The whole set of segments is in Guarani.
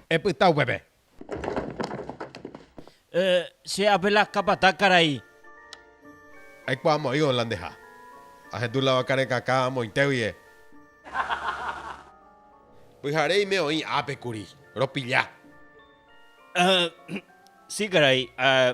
Epyta upépe. Eh, che ápe la capataz karai. Aikuaa mo'ĩvo la ndeha. Ahendu la vaka rekãka amointégui eh. Pyhare ime oĩ ápe kuri. Ropilla. Eh, si karai, eh.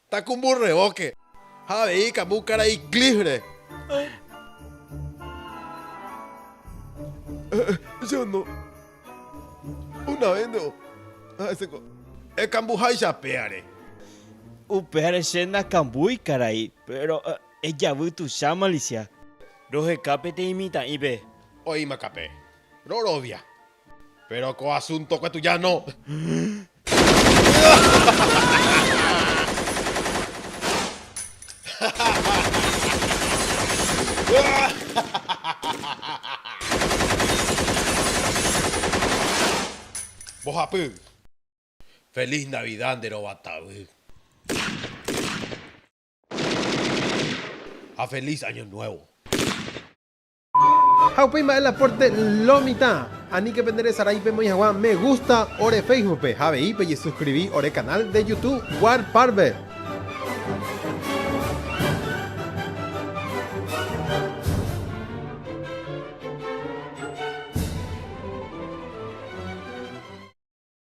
Takumbu revóke ha avei ikambu karai cliff-re. Jeanot, una vénte o ha'ese ko. Ekambuháicha péare. Upévare che nakambúi karai, péro ejavy tuicha malisia. Roheka peteĩ mitã'ípe. Oĩmakape. Rorovia. Péro ko asúntokue tuja no. Mbohapy. Feliz Navidad nde rova tavy. Ha feliz año nuevo. Ha upéi mba'e la pórte lo mitã. Aníke pende resarái pemoĩ hag̃ua me gústa ore Féisbupe ha avei pejesuskrivi ore kanál de jutu War Parve.